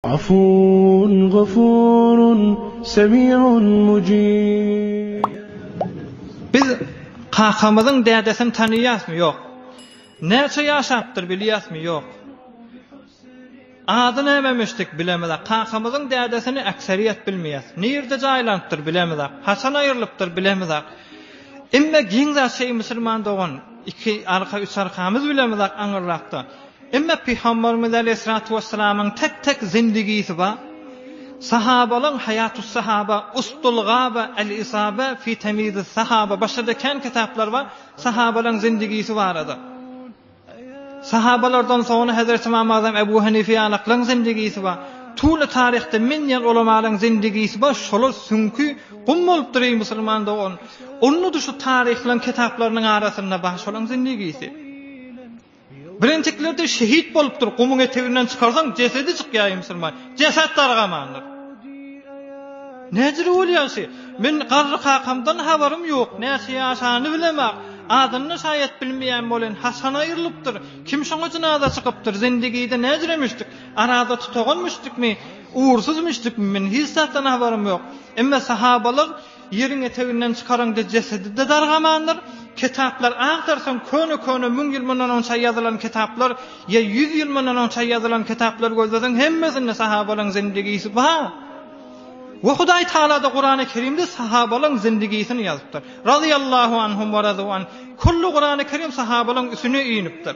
Afuwun gafurun semiun mujib. Biz kakamyzyň dädesini tanaýasmy? Ýok. Näçe ýaşapdyr bilýäsmi? Ýok. Ady nämemişdik? Bilemizok. Kakamyzyň dädesini äkseriýet bilmeýäs. Nirde jaýlanypdyr? Bilemizok. Haçan aýrylypdyr? Bilemizok. Emme giň zat şeý musulman dogan, iki arka, üç arkamyz bilemizok aňyrrakda. Emma Pygamberimiz aleýhissalatu wesselamyň tek-tek zindigisi bar. Sahabalaryň Haýatussahaba, Ustul Gaba, Al-Isaba fi Tamyizis-Sahaba başga-da kän kitaplary bar sahabalaryň zindigisi barada. Sahabalardan soňra Hezreti Ymam Azam Ebu Hanife ýalaklaryň zindigisi bar. Tuly taryhda men diýen ulamalaryň zindigisi bar, şolar süňki gum bolupdyr eý musulman dogan. Onda-da şu taryhlaryň kitaplarynyň arasynda bar şolaryň zindigisi. Birinjikilerde şehit bolupdyr, gumuň eteginden çykarsaň jesedi çykýar ýmsyrman, jeset dargamandyr. Näjili bolýar şi? Men garry kakamdan habarym ýok, näçe ýaşany bilemak, adyny şaýat bilmeýän bolen haçan aýrylypdyr, kim şoňa jynaza çykypdyr, zindigide näjire müşdik, arada tutagan müşdikmi, ugursuz müşdikmi men hiç zatdan habarym ýok. Emma sahabalar Ýeriň eteginden çykaraňda jesedi-de dargamandyr. Kitaplar agtarsaň, köne-köne müň ýyl mundan onça ýazylan kitaplar ýa ýüz ýyl mundan onça ýazylan kitaplar gözleseň, hemmesinde sahabalaryň zindigisi bar. We Hudaý Tagala-da Kurany Kerimde sahabalaryň zindigisini ýazypdyr. Razyýallahu anhum we razu an. Külli Kurany Kerim sahabalaryň üsüne inipdir.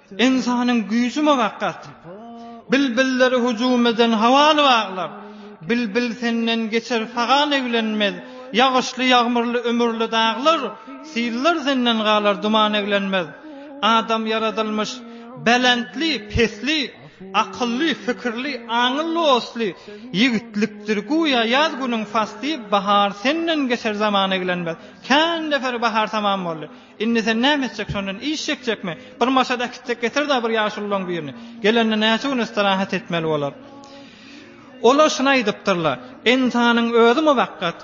Ynsanyň güýji mugakgat. Bilbilleri hüjüm eden hawal baglar. Bilbil senden geçer sagal eglenmez. Ýagyşly ýagmyrly ümürli daglar, Sillar senden galar duman eglenmez. Adam ýaradylmyş belentli, pesli, Akylly, fikirli, aňylly, osly. Ýigitlikdir güýä ýaz günüň fasly, Bahar senden geçer zaman eglenmez. Kän nefer bahar tamam boldy. Indi sen näme etjek şondan iş çekjekmi? Bir maşada äkitsek getir-dä bir ýaşululaň birini. Gelende näçe gün istirahat etmeli bolar? Olar şuny aýdypdyrlar, Ynsanyň özi muwakkat,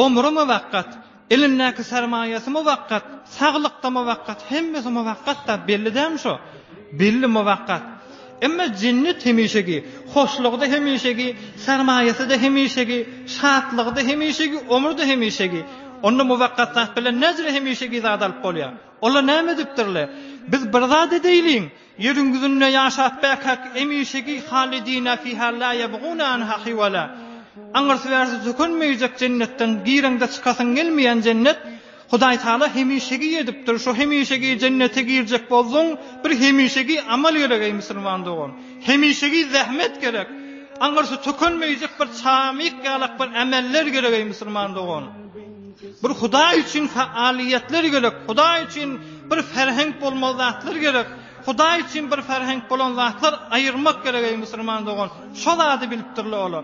omry muwakkat, elindäki sermaýasy muwakkat, saglyk-da muwakkat, hemmesi muwakkat-da, belli dälmi şo? Belli muwakkat. Emma jennet hemişeki, hoşlugy-da hemişeki, sermaýasy-da hemişeki, şatlygy-da hemişeki, ömri-de hemişeki. Onda muwakkat zat bilen näcirä hemişeki zady alyp bolýar? Olar näme edipdirler? Biz bir zat edäýliň, ýeriň ýüzünde ýaşap bäkak hemişeki halidina fiha la ýebguna anha hiwala. Aňyrsy-bärsi sökünmeýjek jennetden gireňde çykasyň gelmeýän jennet. Hudaýtagala hemişegi edipdir, şo hemişegi jennete girjek bolsaň, bir hemişegi amal gerek eý musulman dogan. Hemişegi zähmet gerek. Aňyrsy tökünmeýjek bir çamyk ýalak bir ameller gerek eý musulman dogan. Bir Hudaý üçin faaliýetler gerek, Hudaý üçin bir ferhenk bolmaly zatlar gerek. Hudaý üçin bir ferhenk bolan zatlar aýyrmak gerek eý musulman dogan. Şo zady bilipdirler olar.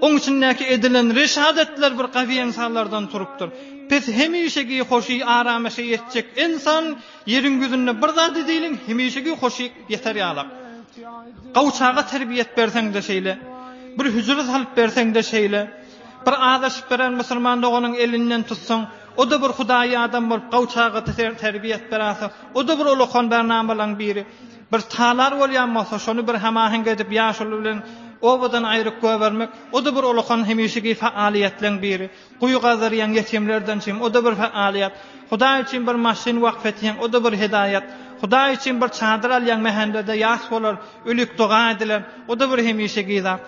Oň içindäki edilen reşadetler bir gawy ensanlardan turupdyr. Pes hemişegi hoşy aramaşa ýetjek ensan ýeriň ýüzünde bir zady diýliň hemişegi hoşy ýeter ýalak. Gawçaga terbiýet berseň-de şeýle, bir hüjre salyp berseň-de şeýle, bir azaşyp beren musulman doganyň elinden tutsaň, o-da bir hudaýy adam bolup gawçaga terbiýet beräýse, o-da bir ulakan bernamalaň biri. Bir talar bolýan bolsa, şony bir hemaheňk edip ýaşuly bilen obadan aýryk goýbermek, o-da bir ulakan hemişeki fa-alyýetleň biri. Guýy gazdyrýaň, ýetimlerden çym, o-da bir fa-alyýet. Hudaý üçin bir maşyn wakf etýäň, o-da bir hidaýat. Hudaý üçin bir çadyr alýaň, mähende-de ýas bolar, ölik doga ediler, o-da bir hemişeki zat.